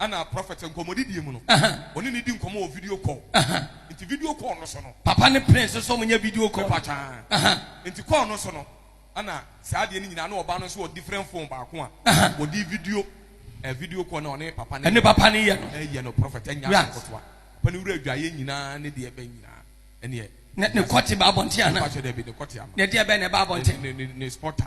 Ɛna prɔfɛt nkɔmmɔdidie mu no, ɔne no di nkɔmmɔ wɔ video call. Nti video call no so no. Papa ne Prince nso wɔnyɛ video call. Mepa twaa. Nti call no so no, ɛna saa adeɛ no nyinaa na ɔbaa no nso wɔ different phone baako a wɔde video eh, video call na ɔne papa no. Ɛne papa no yɛ no. Ɛyɛ no prɔfɛt ɛnyɛ asɛm kotoa. Papa no wura adwaeɛ nyinaa ne deɛ ɛbɛn nyinaa ɛneɛ. Ne kɔte ba abɔnten anaa? Mepa twɛ dɛbi ne kɔte ama. Ne deɛ ɛbɛn na ɛba abɔnten. Ne ne ne spotter.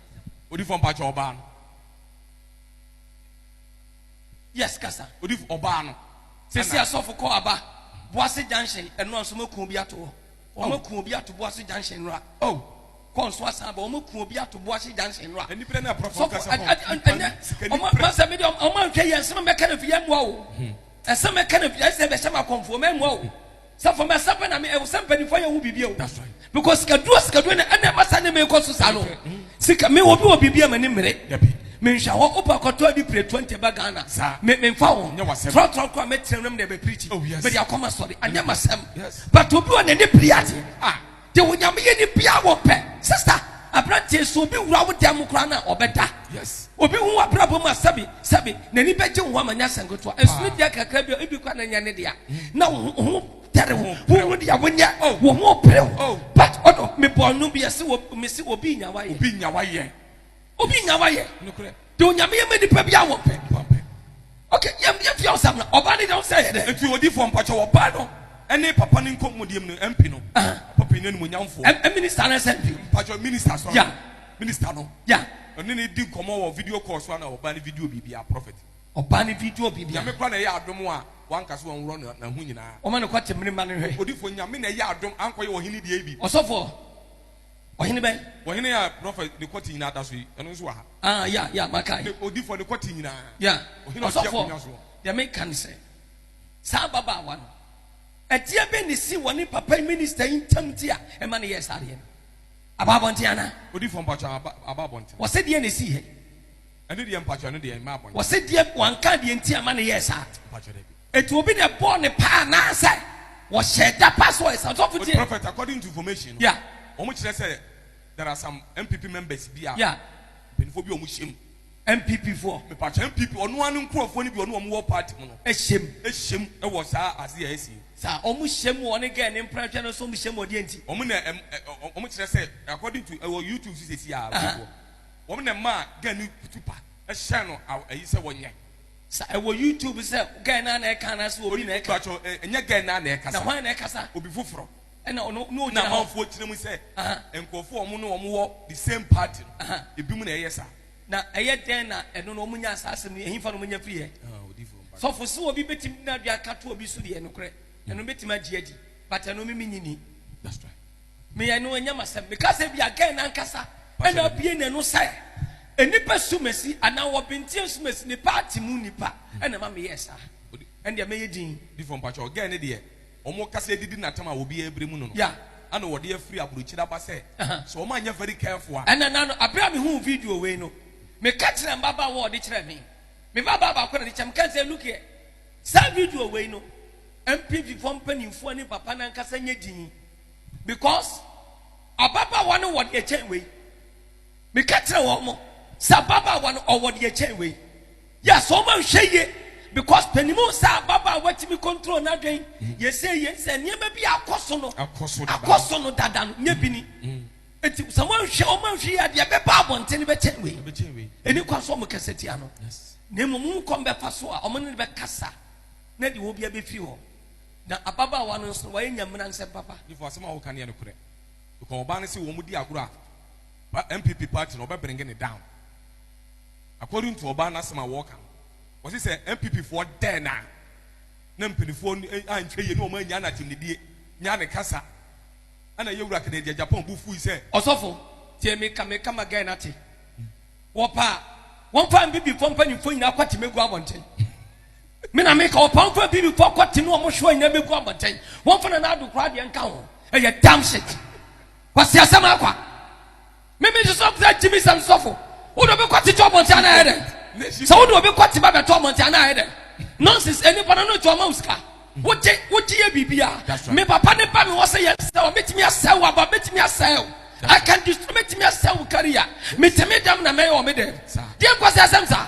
Odifo mpakyɛ ɔbaa no. Yes kasa. Odifo ɔbaa no. Sisi asɔfo kɔ aba Boase junction ɛno anso mo kuo bi ato hɔ. Oh. Wɔn kuo bi ato Boase junction nora. Oh. Kɔ nso asan ba wɔn kuo bi ato Boase junction nora. Ɛni pere na ɛprɔfo kasa hɔ. Ɛnɛ wɔn masɛ mi de wɔn anhwɛ yɛ nsɛm mɛka na fi yɛ mua o. Nsɛm mɛka na fi ɛsɛ bɛhyɛ ma kɔnfo mɛ mua o. Sɛ for mɛsa pɛ na me ɛwɔ sɛ mpanyinfoɔ yɛ ho biribi o. That's right. Because sikaduro sikaduro na ɛna ɛma saa nneɛma ɛkɔ so saa no. Mm. Sika me obi wɔ biribi a m'ani mmere. Dabi. Me nhwɛ hɔ opa kɔtɔ adi pire twenty ba Ghana. Saa. Me me nfa wɔn. Nyɛ wasɛm. Trɔtrɔ kora mɛtena mu na mɛ pirikyi. Oh yes. Mɛ de akɔma sɔre. Anyɛ ma sɛm. Yes. But obi wɔ n'ani piri ate. Ah. de onyame yɛ ni bia wɔ pɛ sista aberanteɛ sɛ obi wura wo dan mu koraa na ɔbɛda yes obi hu abrabɔ mu asɛbi sɛbi n'ani bɛgye wo ama nyɛ asɛm ketewa ɛsono deɛ kakra bi ebi kora na nyɛ ne dea na wo ho tɛre ho wo ho deɛ wonyɛ oh. wo ho pere ho oh. but ɔno mebɔ ɔno bi ɛse mese obi nyawa yɛ obi nyawa yɛ Obi nya wa yɛ. Nokorɛ. De onyame yɛ mɛ nipa bi a wɔ pɛ. Pɔn pɛ. Ok yɛm yɛ fia ɔsam na ɔbaa ne deɛ ɔsɛ yɛ dɛ. Nti odifoɔ mpakyɛ ɔbaa no ɛne papa no nkɔ mudiem no MP no. Papa panyini animonyamfoɔ. M minister no ɛsɛ MP. Mpakyɛ minister asɔre. Yeah. Minister no. Yeah. Ɔne no di nkɔmɔ wɔ video call so ana ɔbaa no video biribiaa prophet. Ɔbaa no video biribiaa. Nyame kora na ɛyɛ adom a wanka so wɔnworɔ no na ho nyinaa. Wɔma no kɔ temene ma no nhwɛ. Odifoɔ nyame na ɛyɛ adom ankɔ yɛ ɔhene deɛ bi. Ɔsɔfoɔ. Ɔhene bɛn? Ɔhene a prɔfɛ ne kɔte nyinaa da so yi, ɛno nso wɔ ha. Ah, ya, ya, maka yi. Ne odifɔ ne kɔte nyinaa. Ya, ɔhene ɔte akonnwa so. Deɛ meka ne sɛ, saa ababaawa no, adeɛ bɛn na esii wɔ ne papa yi minista yi ntam nti a ɛma no yɛɛ saa adeɛ no? Aba abɔnten anaa? Odifɔ mpakyɛ aba, aba abɔnten. Wɔsɛ deɛ na esii hɛ? Ɛne deɛ mpakyɛ, ɛno deɛ mma abɔnten. Wɔsɛ deɛ wanka deɛ nti a ɛma no yɛɛ saa? Mpakyɛ dɛbi. Eti obi na ɛbɔɔ ne paa anaasɛ wɔhyɛɛ da pa so wɔ Esan sɔfo With tie? prophet according to information no Yeah, wɔn kyerɛ sɛ there are some MPP members bi a yeah, mpanyinfoɔ bi a wɔn hyɛ mu MPP foɔ mepatwa MPP wɔn ara ne nkurɔfoɔ no bi wɔn a wɔn wɔ party mu no ɛhyɛ mu. hyɛ mu wɔ saa ase a ɛsi Sa wɔn hyɛ mu wɔ ne gɛɛ ne mprɛnhwɛ no so wɔn hyɛ mu wɔ deɛ nti? wɔn na ɛm ɛ ɔ- wɔn kyerɛ sɛ according to ɛwɔ YouTube so sisi a Aha. wɔn wɔn na ɛma gɛn ne kutu pa ɛhyɛ no aw ɛyi sɛ wɔnyɛ Sa ɛwɔ YouTube sɛ guy naa na ɛka anaasɛ obi Obi na ɛka? Mpakyɛw ɛ ɛnyɛ guy naa na ɛkasa. Na hwan na ɛkasa? Obi foforɔ. Ɛna ɔno na ɔgyina hɔ. Amanfoɔ gyina mu sɛ Aha. nkurɔfoɔ a wɔn ne wɔn wɔ the same party no, Aha. ebinom na ɛyɛ saa. Na ɛyɛ dɛn na ɛno no wɔn nyaa saa asɛm no yi? Ɛhefa na wɔn nya firiiɛ? Odiyifoɔ mpakyɛw. Sɔfo, sɛ obi bɛtumi de n'adwene aka to obi so deɛ, nokorɛ, ɛno mɛtumi agye adi. But ɛno me menye ni. That's right. Meyɛ no ɛnyɛ masɛm. Meka sɛ bi a Gen nankasa ɛna abie n'ano sɛ nnipa sumasi anaa wɔ Binteɛ nsumasi ne party mu nnipa ɛna ɛma meyɛɛ saa. Ɛndeɛ mɛyɛ din. Difoɔ mpakyɛw Gen ne deɛ wɔn kasa adidi natam a obiara abrɛ mu no no. Yeah. Ɛna wɔde afiri abrokyire aba sɛ sɛ wɔn anyɛ very careful a. Ɛna na no abrɛ a mehuu video wei no meka kyerɛ mbabaawa a wɔde kyerɛ me. Me babaa baako na ɔde kyerɛ me. Meka sɛ look here. Saa video wei no NPV foɔ mpaninfoɔ ne papa no ankasa nyɛ din because ababaawa no wɔ deɛ kyɛn wei meka kyerɛ wɔn mo sɛ ababaawa no ɔwɔ deɛ kyɛn wei yɛ sɛ wɔn anhwɛ yie because panimu sɛ ababaawa tumi control n'adwen yɛsɛ yie sɛ nneɛma bi akɔ so no akɔ so no dada no nyɛ bi ni Enti sɛ wɔnhwɛ wɔn anhwɛ yi a deɛ ɛbɛba abɔnten no bɛkyɛn wei. Ɛni kwan so wɔn kasa tia no. Na mmom wɔn kɔm bɛfa so a wɔn ne no bɛkasa na deɛ wɔbia bɛfiri hɔ. Na ababaawa no nso wɔayɛ nyamena nsɛm papa. Nifo asɛm a wɔka no yɛ nokorɛ. Because ɔbaa no se wɔn di agorɔ a MPP party no ɔbɛbringe ne down. According to ɔbaa n'asɛm a wɔka no wɔsi sɛ MPP foɔ dɛɛ na na mpanifoɔ anhwɛ yie ne wɔn annya n'atemnidie nya ne kasa. Ɛna ɛyɛ wura kɛnɛ deɛ Japan bo fui sɛ. Ɔsɔfo, tie me ka me ka ma guy no ate. Wɔpɛ a, wɔmfa Abibifoɔ mpanimfoɔ nyinaa kɔte megu abɔnten. Me na meka, wɔpɛ a wɔmfa Abibifoɔ kɔte ne wɔn hyewa nyinaa megu abɔnten. Wɔmfa Nana Addo koraa deɛ nka ho. Ɛyɛ damn shit. Kwasi asɛm akwa. Mimi nso sɛ sɛ gyimi sɛm sɔfo wo de obi kɔ tete ɔmɔnte ana ayɛ dɛ sɛ wo de obi kɔ teba bɛtɔ ɔmɔnte ana ayɛ dɛ nonsense ɛni pɔnɔ no tɔ ɔma wo sika wogye wogye yɛ biribi a me papa ne ba mi wɔ sɛ yɛ sɛ wɔ metumi asɛ wo aba metumi asɛ wo I can destroy metumi asɛ wo kari a metumi dɛm na mɛyɛ wɔ me dɛ deɛ nkɔ sɛ ɛsɛm saa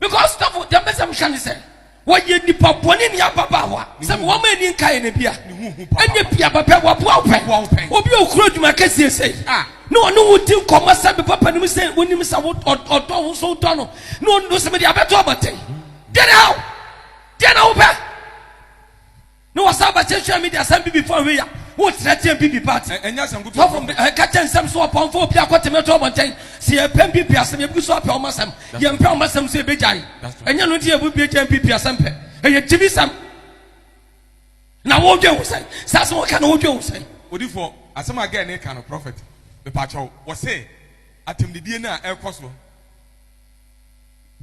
Because sotafo deɛ mpɛ sɛ mohwɛ ne sɛ wɔyɛ nipa bɔne ne ababaawa sɛ wɔn ma ani nkaeɛ no bia ɛnyɛ pia bɛpɛ wɔboa wo pɛ obi a ɔkura adwuma kɛseɛ sɛ ah. na ɔne wo di nkɔmmɔ sɛ me papa nim sɛ wonim sɛ ɔdɔ wo nso wodɔ no na ɔno sɛ mede abɛto abatɛn deɛ na how deɛ na wopɛ Ne wɔsan aba kyɛ hwɛ media sɛ mbibi fɔ hwe ya wo srɛ teɛ mbibi pa ate ɛnyɛ asɛm kutu sɔfo mbi ɛka kyɛ nsɛm so ɔpɔn fɔ obi akɔ teme to ɔbɔnten sɛ yɛ pɛ mbibi asɛm yɛ bgu so apɛ ɔma sɛm yɛ mpɛ ɔma sɛm so yɛ bɛ gyae ɛnyɛ no nti yɛ bɛ gyae mbibi asɛm pɛ ɛyɛ gyimi sɛm na wo dwen ho sɛn saa sɛ wɔka na wo dwen ho sɛn odifɔ asɛm a gɛɛ ne ka no prɔfɛt mepa kyɛw wɔ sɛ atɛmdidie no a ɛkɔ so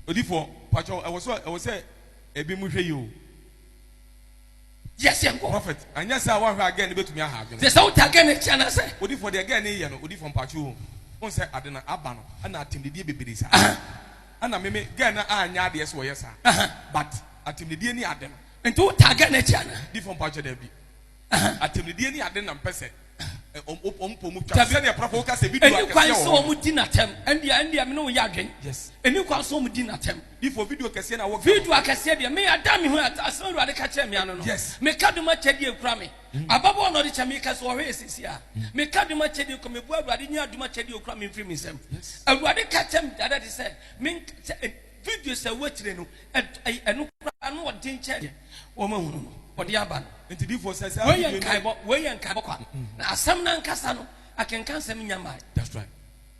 odifɔ pa kyɛw ɛwɔ sɛ ɛwɔ sɛ ebi mu hwɛ yi o. Yes, yɛn kɔ. Prophet, anyɛ saa a wɔnhwɛ a girl no bɛtumi aha adwene. Te sɛ wo ta girl no akyi anaasɛ. Odifoɔ deɛ girl no reyɛ no odifoɔ mpaakye oo wohu sɛ ade no aba no ɛna atemdidie bebree saa ɛna me me girl no anyɛ adeɛ sɛ ɔyɛ saa but atemdidie ne ade no. Nti wo taa girl no akyi anaa. Difoɔ mpaakye daabi atemdidie ne ade na mpɛ sɛ. ɛni kwan sɛ wɔn di n'atɛm ɛndeɛ ɛndeɛ mene wo yɛ adwen ɛni kwan sɛ wɔn di n'atɛm video akɛseɛ deɛ me ada me ho asɛm awurade ka kyerɛ me ano no meka dom akyɛdeɛ kura me mm. ababɔ na ɔde kyɛ meka sɛ ɔhwɛ ɛsisi a mm. meka dom akyɛdeɛ kɔ mebua awurade nyɛ adom akyɛdeɛ kura me mfiri me nsɛm awurade ka kyerɛ me dada de sɛ Videos a ɛwɔ akyire no, ɛno koraa na ɔden kyɛn deɛ wɔahunu no, ɔde aba no. Nti difoɔ sɛ saa video no. Wei yɛ nkaebɔ, wei yɛ nkaebɔ kwa. Na asɛm no ankasa no, akenka nsɛm nnya mmae. That's right.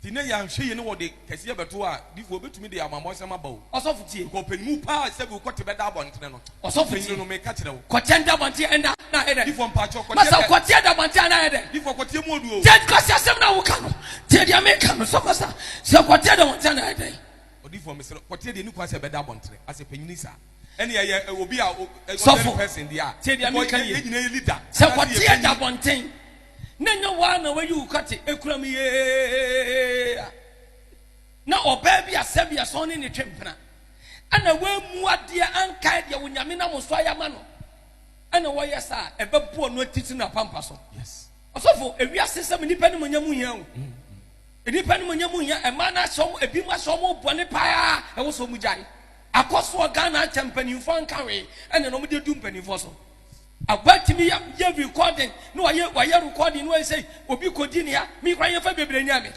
Nti na yɛanhwɛ yie ne wɔde kɛseɛ bɛto a, difoɔ bɛtumi de amammɔ nsɛm aba o. Ɔsɔfo tie. Kɔ panyinmu paa sɛ bi wokɔ te bɛda abɔntene no. Ɔsɔfo tie. Panyinmu no meka kyerɛ wo. Kɔ kyɛn da abɔntene ɛnda na ayɛ dɛ. Difoɔ mpakyɛ kɔ tie. Masa kɔ tie da abɔntene na ayɛ dɛ. Difoɔ kɔ tie mu oduo. Tie kɔ tie asɛm na woka no. Tie deɛ meka no sɛ masa sɛ kɔ tie da abɔntene na ayɛ dɛ. Odiyifo no mesrɛ kɔ teɛ deɛ ɛni kwan sɛ ɛbɛda abɔntere asɛ panyini saa ɛne ɛyɛ obi a ɔdɛre person deɛ a teɛ deɛ meka nie ɛnyina yɛ leader sɛ kɔ teɛ da abɔnten na ɛnyɛ waa na wayi wo kate ɛkura mu yee na ɔbaa bi asɛ bi asɔn ne ne twe mpena ɛna wɔamu adeɛ ankae deɛ wo nyame nam so ayɛ ama no ɛna wɔyɛ saa ɛbɛboɔ no atitiri no apampa so ɔsɔfo ewiase sɛm nnipa ne mu nya mu hia wo mm. Nnipa no mu nyɛ mu nyɛ mmaa no asɛ wɔn ebi mu asɛ wɔn mu bɔne paa ɛwɔ sɛ wɔn gyae. Akɔsoɔ Ghana akyɛ mpanimfoɔ nka wee ɛne na wɔn de du mpanimfoɔ so. Agba tumi yɛ yɛ recording na wɔyɛ wɔyɛ recording na wɔyɛ sɛ obi kɔdi ne ya mi kora yɛn fa bebree nya mi.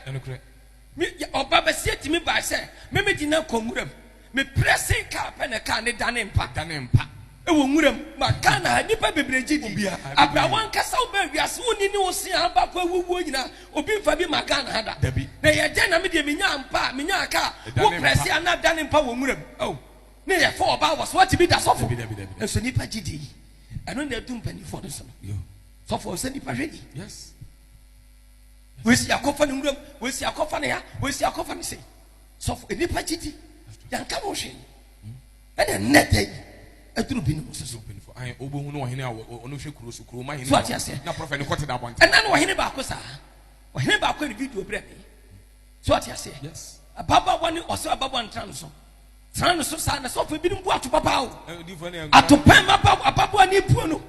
Mi ɔba bɛseɛ tumi baa sɛ mɛmɛ di na kɔ nwura mu. Me pressing car pɛ na car no dane mpa. Ɛdane mpa wɔ nwura mu. Ma Ghana ha nnipa bebree gye di. Abira wankasa wobaa wiase wonni ne wo se a baako awu wuo nyina obi nfa bi ma Ghana ha da. Dabi. Na yɛ dɛn na me deɛ menyaa mpa a menyaa car wo prɛse a na dane mpa wɔ nwura mu oh ne yɛ fa ɔbaa wɔ so watumi da sɔfo Dabi dabi dabi. nso nnipa gye di yi ɛno na adu mpaninfoɔ no so no Yo. sɔfo ɔnsɛ nnipa hwɛ ni Yes. wei se yɛakɔ fa no nwura mu wei se yɛakɔ fa no ha wei se yɛakɔ fa no sei. sɔfo nnipa gyidi yɛnka no hwee ɛna nnɛ da yi ɛduru bi ne mu soso wobɛhu no ɔhene a ɔno hwɛ kuro so kuroma hene so ate aseɛ na prɔfɛ ne kɔte da abɔnte ɛna no ɔhene baako saa ɔhene baako ne video berɛ me so ate aseɛ ababaawa ne ɔsɛ ababaawa ntra no so Tena no so saa na sɔfo ebinom bu ato babaaw. Ato pɛn ma ba ababoa ne ebuo no.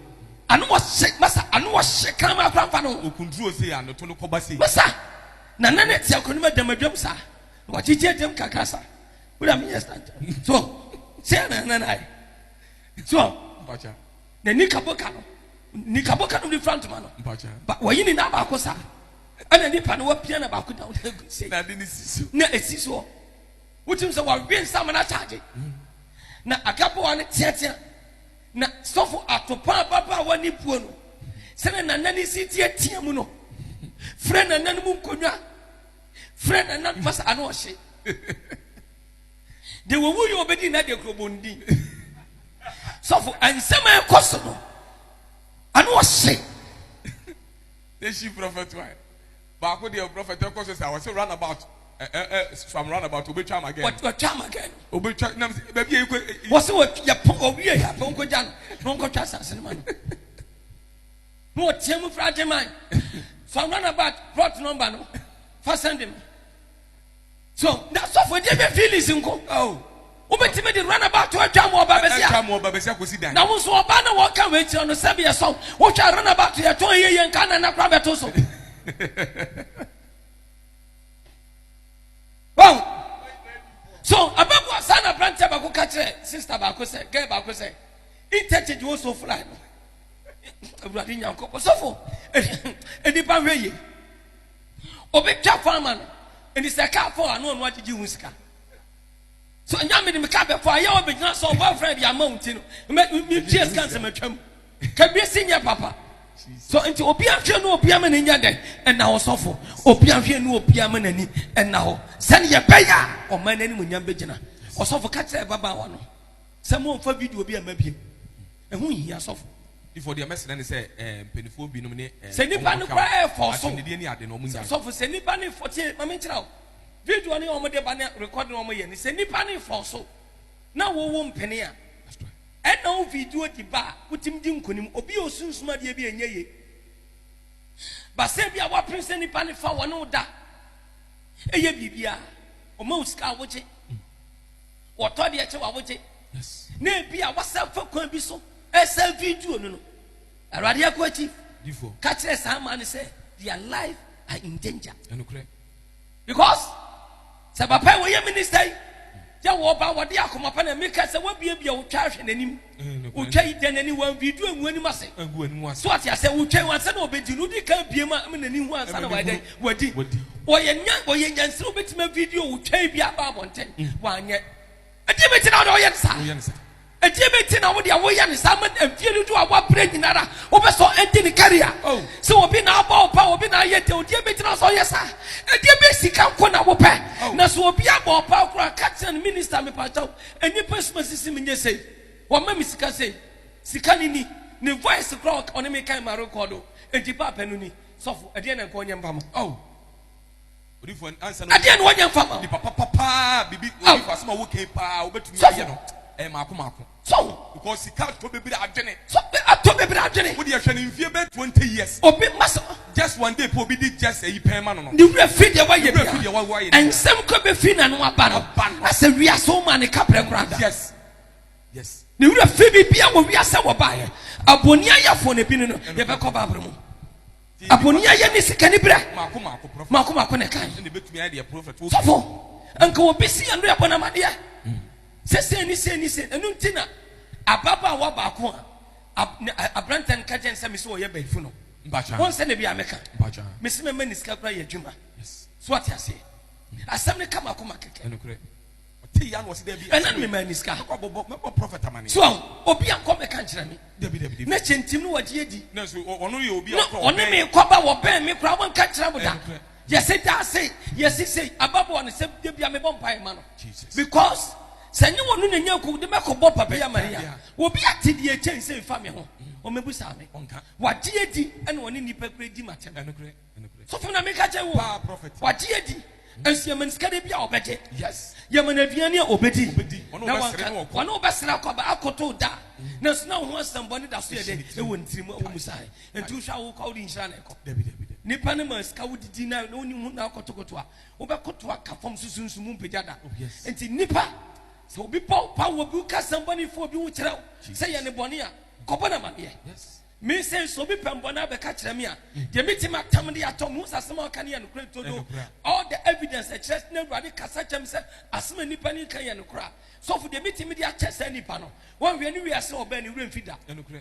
Ano wɔ hye masa ano wɔ hye kan ma akora nfa no. Okunduro se ya no to no kɔba se. Masa na na ne te akɔnim adam adwam saa. Na wagyegye adam kakra sa. Wura mi yɛ stand. So se ya na na na ayɛ. So na ni kaboka no ni kaboka no ni front ntoma no. Ba wɔyi ne nan baako saa. Ɛna nipa no wapia na baako down. Na ade ne si so. Na esi so. Wotim sɛ wɔawie nsam no akyagye. Na akaboa no teatea. Na sɔfo atopa ababaawa ne puo no, sɛnea nanan si teatea mu no, frɛ nanan mu nkonnwa, frɛ nanan fa sa ano ɔhye. De wɔwu yɛ obedi na de kurobon din. Sɔfo nsɛm a ɛkɔ so no, ano ɔhye. They she prophet why? Baako deɛ prɔfɛt ɛkɔ so saa ɔsɛ run about ɛ ɛ ɛ from run about obetwa ama gɛn. Ɔtwa ama gɛn. Obetwa nam sɛ baabi yɛ ekɔ. Wɔsi wɔ yɛ pɔn owie yɛ apɔn ko gya no na wɔn kɔ twa asase no ma no. Na ɔteɛ mu fura agye man from run about plot number no fa sɛn de mi. So na sɔfo de bɛ feelings nko. Oh. wobɛtumi de runabout atwa mu ɔba bɛsi atwa mu ɔba bɛsi akosi dan na wo nso ɔba na wɔka wei kyerɛ no sɛbi ɛsɔ wohwɛ runabout yɛtɔn yɛ yɛ nka na na kora bɛto so wow so abɛboa saa na aberanteɛ baako ka kyerɛ sister baako sɛ gɛ baako sɛ interchange wo so fly no awurade nyankopɔ sɔfo nnipa hwɛ yie Obi twa kwan ama no. Enti sɛ kaa fɔ a, na ɔno agyegye ho sika. So nya me de me kaa bɛfɔ a, yɛ ɔbɛgyina so boyfriend de ama wo nti no, metua sika nsɛm atwam. Kabie si nyɛ papa. So nti obi ahwɛ no obi ama n'anya dɛ ɛna hɔ sɔfo. Obi ahwɛ no obi ama n'ani ɛna hɔ. Sɛne yɛbɛyɛ a ɔman no animuonyam bɛgyina. Ɔsɔfo ka kyerɛ ababaawa no. Sɛ mo nfa video bi mma bio. Ɛho nhia sɔfo. Before deɛ mɛsrɛ ne sɛ eh, mpanifoɔ binom ne eh, Sɛ nipa no kora ɛyɛ fɔɔ so. Akyinnedeɛ ni ade no ɔmo nyae. Sɔfo sɛ nipa no fɔ tie ma me nkyerɛ wo. Video no ɔmo de ba ne record no ɔmo yɛ no sɛ nipa no fɔɔ so na wo wo mpene a ɛna wo video di ba a wotumi di nkonim. Obi a osunsum adeɛ bi ɛnyɛ ye. Ba sɛ bi a wapene sɛ nipa no fa wɔne wo da ɛyɛ biribi a ɔma wo sika a wogye. Wɔtɔ deɛ kyɛ wa wogye. Na ebi a wasan fa kwan bi so ɛsan video no no. Awurade ako akyi. Ka kyerɛ saa maa no sɛ their life are in danger. Because sɛ papa yi wɔyɛ minister yi yɛ wɔba wɔde akoma pa na meka sɛ wabiabia wo twa ahwɛ n'anim. Wotwa yi dɛn ani wa video egu anim ase. Egu anim ase. So ate asɛ wotwa yi ansa na ɔbɛdi no wodi kan bie ma ama n'ani hu ansa na wayɛ dɛn wadi. Ɔyɛ nya ɔyɛ nyansiri obetumi a video wotwa yi bi aba abɔnten wanyɛ. Ɛdeɛ bɛti na ɔde ɔyɛ ne saa. Ɛdeɛ bɛti na wode awoyɛ ne saa ma mfie dodo a wabrɛ nyinara wobɛ sɔ ɛnti ne career. Oh. Sɛ obi na abɔ ɔpa obi na ayɛ dɛ ɔdeɛ bɛti na sɔ ɔyɛ saa. Ɛdeɛ bɛ sika nko na wopɛ. Oh. Na so obi abɔ ɔpa kora ka kyerɛ no minister mepatɔ Nnipa suma sisi me nyɛ sei, wɔma me sika sei, sika no ni, ne voice koraa ɔka ɔne me kan ma rekɔdo, enti paapa no ni, sɔfo ɛdeɛn na nka ɔnyɛ mfa ma wo? Ɛdeɛn na ɔnyɛ mfa ma wo? Sɔfo, sɔho, atɔ bebree adwene, obi mma sɛ. Just one day po obi di just ayi pɛn ma no no. Ne werɛ fi deɛ wayɛ bia. Nsɛm kɔ bɛfiri n'ano aba no. Asɛ wiase wo maa ne kaprɛ koraa da. Yes. Yes. Ne werɛ fi bibia wɔ wiase wɔ baeɛ. Abɔni ayɛfoɔ na ebi no no yɛbɛkɔ baabere mu. Abɔni ayɛ ne sika ne berɛ. Maako maako prophet. Maako maako ne kan. Ɛna ebetumi ayɛ deɛ prophet. Sɔfo, nka obi si yɛn do yɛbɔ n'amadeɛ. Sɛ sɛ ni sɛ ni sɛ. Ɛnu nti na ababaawa baako a aberantɛ no ka gyɛn sɛ me sɛ ɔyɛ bayifo no. Wohu sɛ na bi a meka me se mɛma ne sika koraa yɛ adwuma. So wate aseɛ? Asɛm no ka m'akoma kɛkɛ. Ɔte ya na ɔse daabi. Ɛna no mema ne sika. Mɛbɔ prɔfɛt amane. So ahu, obi a kɔ mɛka nkyerɛ me. Dabi dabi dabi. Na kyɛ ntim no wagye adi. Na so ɔno yɛ obi a ɔkɔ ɔbɛn. Ɔne me kɔba wɔbɛn me koraa wɔnka nkyerɛ mo da. Yɛse daase yɛ sisei ababɔɔ no sɛ dabia mebɔ mpaeɛ ma no because sɛ nyɛ wɔno na nyanko wode mɛkɔ bɔ papa ya mane a obi ate deɛ kyɛn sɛ fa me ho ɔmɛbu saa me wagye adi ɛna ɔne nipa kura di matɛm sɔfo na meka kyɛ wo wagye adi nso yɛmane sika de bi a ɔbɛgye yɛmane aduane a ɔbɛdi na wanka wɔne wobɛsra kɔba akoto da nanso na wo ho asɛmbɔ ne da so yɛ dɛ ɛwɔ ne tirim ɛwɔ mu sae Enti wohwɛ a wokɔ a wode nhyira na ɛkɔ? Dabi, dabi, dabi. Nipa no ma sika wodidi na na wonni ho na akɔtokoto a, wobɛkoto aka fam so sunsun mu mpagya da. Oh, yes. Enti nipa, sɛ obi bɔ wo pa wɔ bi, woka asɛm bɔne fa obi ho kyerɛ wo Jesus. sɛ yɛ ne bɔne a, kɔbɔ no amaneɛ. Yes. Me sɛ sɛ obi pɛ mbɔne abɛka kyerɛ me a, deɛ mɛtumi atam de atɔ, mehu sɛ asɛm a ɔka no yɛ nokorɛ to do. Ɛnokorɛ. All the evidence ɛkyerɛ sɛ na Awurade kasa kyerɛ me sɛ asɛm a nipa no ka yɛ nokorɛ a, sɔfo deɛ mɛtumi de akyɛ saa nipa no, woanhwɛ ne wiase a ɔbɛɛ no, ne werɛ mfi da. Ɛnokorɛ.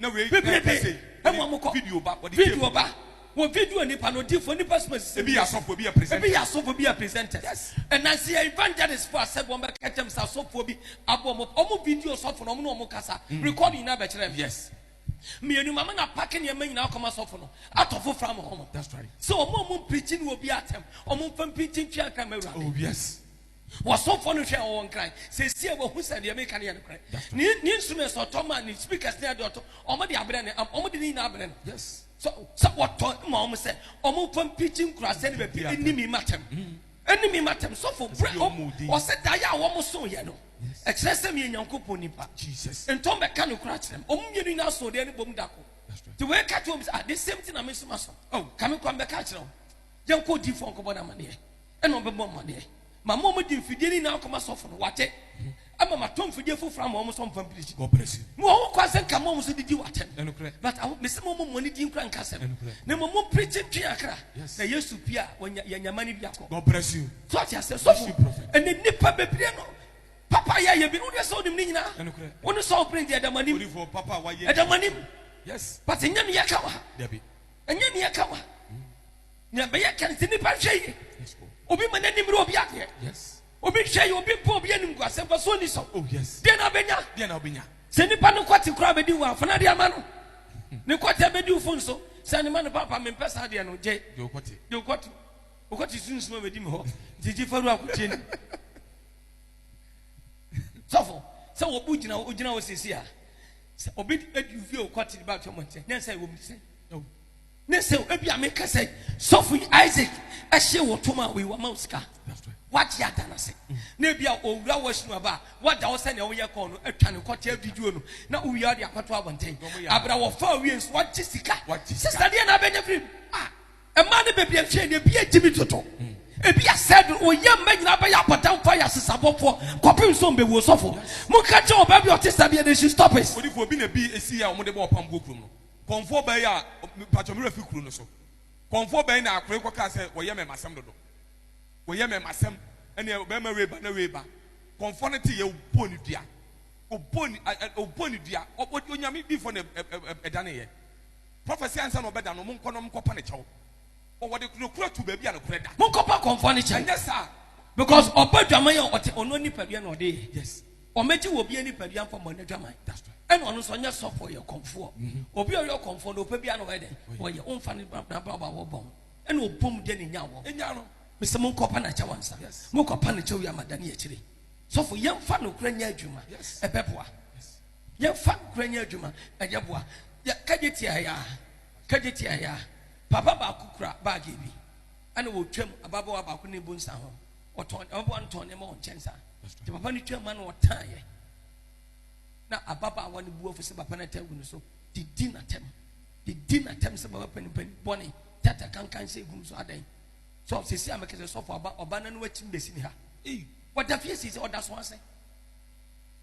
bebrebe wɔ wɔn kɔ video ba wɔ video nipa no odiifo nipa suma sisi ebi yɛ asɔfo ebi yɛ presenters ebi yɛ asɔfo ebi yɛ presenters ɛnansi yɛ evangelist fo asɛ wɔn bɛ kɛkyɛm sɛ asɔfo bi abɔ wɔn wɔn video sɔfo na wɔn na wɔn kasa mm. record nyinaa bɛ kyerɛ mi yes mmienu mama na paki nneɛma nyinaa kɔma sɔfo no atɔ fo fam wɔn sɛ wɔn a wɔn mpirikyi ni obi atɛm wɔn mfa mpirikyi ntwi atɛm awurade oh yes. Ɔsomfoɔ no hwɛɛ wɔn kra, sesie a wɔahu sɛ deɛ meka no yɛ nokorɛ. Ne, ne instruments a ɔtɔ ma, ne speakers ne adeɛ ɔtɔ, wɔn de abrɛ no, wɔn de ne nyinaa abrɛ no. Yes. Sɛ, sɛ wɔtɔ ma wɔn sɛ, wɔn mfa mpikyi nkuraase ne baabi ɛni mi matam. Ɛni mi matam. Sɔfo, brɛ, ɔsɛ da yɛ a wɔn so yɛ no. Ɛkyerɛ sɛ meyɛ Nyankopɔn nipa. Jesus. Ntɔn bɛka nokorɛ akyerɛ me. Wɔn mmienu nyinaa so deɛ ne bom da ko. Ti wei ka kyerɛ wɔn sɛ, ah, the same thing na me nso ma so. Oh, kame kwan bɛka akyerɛ wɔn. Yɛnkɔ odiifoɔ nkɔbɔ no amaneɛ. ɛna ɔbɛbɔ mmaneɛ ma ma ɔmde mfidie no nyinaa kɔma sɔfo no wate ama matɔ mfidie foforɔ ama wɔn sɛ ɔmfa mpiri gyi mu wɔ ho kwan sɛ nka ma wɔn so didi wɔatɛm but aho mesɛ ma ɔmɔ mɔne din kora nka sɛm na mmɔ mɔ mpirikyi ntwe akra na yesu pia yɛnyama no bi akɔ so ɔte asɛ sɔfo ɛne nnipa bebree no papa yɛ yɛ bi no wodeɛ sɛ wonim ne nyinaa wo ne sɔfo pere deɛ ɛdamanim ɛdamanim but ɛnyɛ ne yɛka wa ɛnyɛ ne yɛka wa Nea ɛbɛyɛ ka no sɛ nnipa nhwɛ yie. Obi ma n'ani mmere obi adeɛ. Obi nhwɛ yie, obi mpo obi anim gu asɛm pa so ɔni so. Oh, deɛ na ɔbɛnya. Sɛ nnipa no kɔte koraa bɛdi wo afana de ama no. Ne kɔte bɛdi wo fo nso. Sɛ ne ma no papa mempɛ saa deɛ no gye. Deɛ ɔkɔte. Deɛ ɔkɔte. Ɔkɔte sunsum a bɛdi me hɔ. Nti gye faru akotie no. Sɔfo, sɛ wɔbu gyina wo gyina wo sisi a, sɛ obi adi wo fie ɔkɔte de ba atwa mɔnkyɛ, ne nsa ɛwɔ mu sɛ. Ne sɛ ebi a meka sɛ sɔfo yi Isaac ɛhyɛ wɔ tom a wei wama wo sika wagye ada no se na ebi a owura wɔ sinu aba a wagya wo sɛnea woyɛ kɔɔ no atwa ne kɔkyɛ video no na wowia de akɔto abɔnten abra wɔfa awie nso wagye sika sista deɛ na abɛnya firi a ɛma ne baabi ɛnhwɛ ne ebi agye mi toto ebi asɛ do oyɛ mma nyinaa bɛyɛ abɔdamfo ayɛ asesabɔfoɔ kɔpem nso mbɛwuo sɔfo monka kyɛ ɔbaa bi ɔte saa bi ɛdɛ she stop it. Odifo obi na bi esi yɛ a wɔn de bɔ ɔpam buo kurom no. Kɔmfoɔ bɛn a, mpakyɛ me werɛ fi kuro no so, kɔmfoɔ bɛn na akore kɔ kaa sɛ wɔyɛ mɛmasɛm dodo, wɔyɛ mɛmasɛm ɛneɛ bɛɛma wei ba na wei ba, kɔmfoɔ no te yɛ ɔbɔɔ no dua, ɔbɔɔ no a ɛ ɔbɔɔ no dua, ɔ onyame difoɔ na ɛ ɛ ɛ ɛdane yɛ, prophecy ansa na ɔbɛda no, monkɔ na monkɔ pa no kyɛw, ɔ wɔde nokorɛ to baabi a nokorɛ da. Monkɔ pa kɔmfoɔ no kyɛw, ɛnyɛ saa, because ɔbɔ dwaman a ɔte ɔno nipadua na ɔde yɛ, yes. Wɔbɛgye wɔ obi anipadua mfa mmɔ n'adwaman. Ɛna ɔno nso ɔnyɛ sɔfoɔ, ɔyɛ ɔkɔmfoɔ. Mm-hmm. Obi a ɔyɛ ɔkɔmfoɔ no, ɔpɛ biara na ɔyɛ dɛn? Ɔyɛ. Womfa ne n'abrabɔ a wɔbɔ ho. Ɛna ɔbɔ mu deɛ ne nya wɔ. Nya no. Mesɛ monkɔpa no akyɛw ansa. Monkɔpa no kyɛw yi ama dane akyire. Sɔfo, yɛmfa nokorɛ nyɛ adwuma. Ɛbɛboa. Yɛmfa nokorɛ nyɛ adwuma. Ɛyɛ boa. Kagye tia ya. Kagye tia ya. Papa baako kura baage bi. Ɛna wɔtwam ababaawa baako ne bu nsa ho. Ɔtɔn ɔboa no tɔn nneɛma wɔ nkyɛn saa. Nti papa no twaa mu na ɔtan yɛ. Na ababaawa no bu afu sɛ papa no ata agu no so. Didi n'atam. Didi n'atam sɛ baba panimpanyin bɔne. Tata kankan sɛ egu no so adɛn. So sisi a mekasa sɔfo aba ɔba no no akyi mbesi ne ha. Wɔda fie sisi ɔda so ase.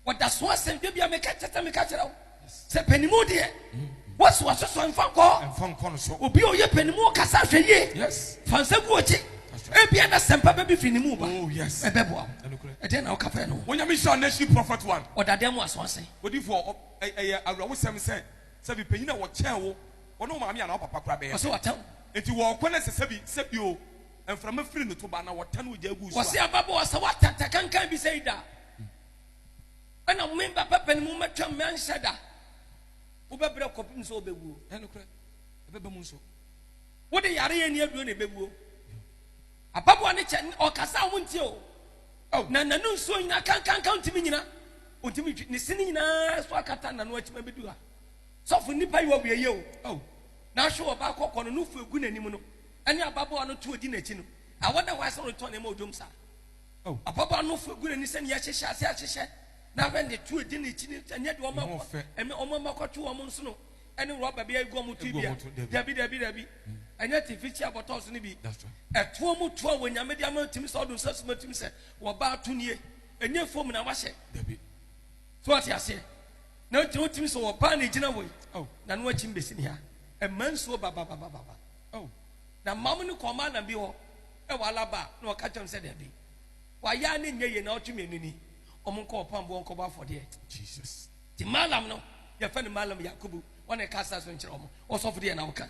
Wɔda so asɛn dwa bia meka kyɛ sɛ meka kyerɛ wo sɛ panimu deɛ wɔsi wɔsoso mfa nkɔ mfa nkɔ no so obi a ɔyɛ panimu kasa hwɛ yie yes fa nsa gu ɔkyi ebia na sɛmpa bɛbi firi ne mu ba oh yes ɛbɛboa wo ɛdeɛ na woka fɛ no onyame hyɛ anasi prophet one ɔdadeɛ mu aso ase odifoɔ ɛyɛ awerɛwosɛm sɛ sɛ bi panyin a wɔkyɛn wo wɔne wo maame anaa papa kora bɛyɛ ɔsɛ wɔtɛw nti wɔkɔ no sɛ sɛbi sɛbi o Mframa firi ne to ba, na wɔtane ogya gu so a. Wɔse ababaawa, sɛ woatɛtɛ kankan bi sei da a, ɛna me ba bɛba ne mu mɛtwam mɛnhyɛ da. Wobɛbrɛ kɔpem sɛ wobɛwuo. Ɛnokorɛ, ɛbɛba mu nso. Wode yare ani aduro na ɛbɛwuo. Ababaawa no kyɛ, ɔkasa a wontie o. Oh. Na nanu nsuo nyina kankanka ntumi nyina. Ɔntumi ntwi, ne sini nyinaa so akata nanu akyima bɛdu ha. Sɔfo nnipa yi wɔ wieyɛ o. Oh. Na ahwe wɔ baakɔ kɔ no, no fo egu n'anim no. Ɛne ababaawa no to a odi n'akyi no. Awɔ na wɔasan retɔn na ɛma odwom saa. Oh. Ababaawa no fo gu n'ani sɛnea yɛahyehyɛ ase ahyehyɛ. Na hwɛ ne to a edi n'akyi no, ɛnyɛ deɛ wɔn akɔ, ɛnyɛ wɔn ama kɔto wɔn nsono ɛne rɔba bi agu wɔn ti bia. Dabi, dabi, dabi. Ɛnyɛ tifikyia bɔtɔɔ so no bi. Ɛtoɔ mu to a wɔ nyame de ama ntumi sɛ ɔdo nsa suma ntumi sɛ wɔ baa to nie. Ɛnyɛ fom na wahyɛ. Dabi. So ɔte aseɛ. Na ntumi ntumi sɛ wɔ baa na egyina wɔ yi. Oh. Na no akyi mbesi ne ha. Ɛma nsuo ba ba ba ba ba. Oh, na mom no kɔɔ Malam bi hɔ wɔ Alaba na ɔka kyerɛɛ me sɛ dabi, wayɛ ara na ɛnyɛ yie na ɔtwe me ani ni, wɔnkɔ ɔpam boɔ nkɔbɔ afɔdeɛ. Jesus. Nti Malam no, yɛfrɛ no Malam Yakubu, ɔna ɛka asaase no nkyerɛ wɔn, ɔsɔfo deɛ na ɔka.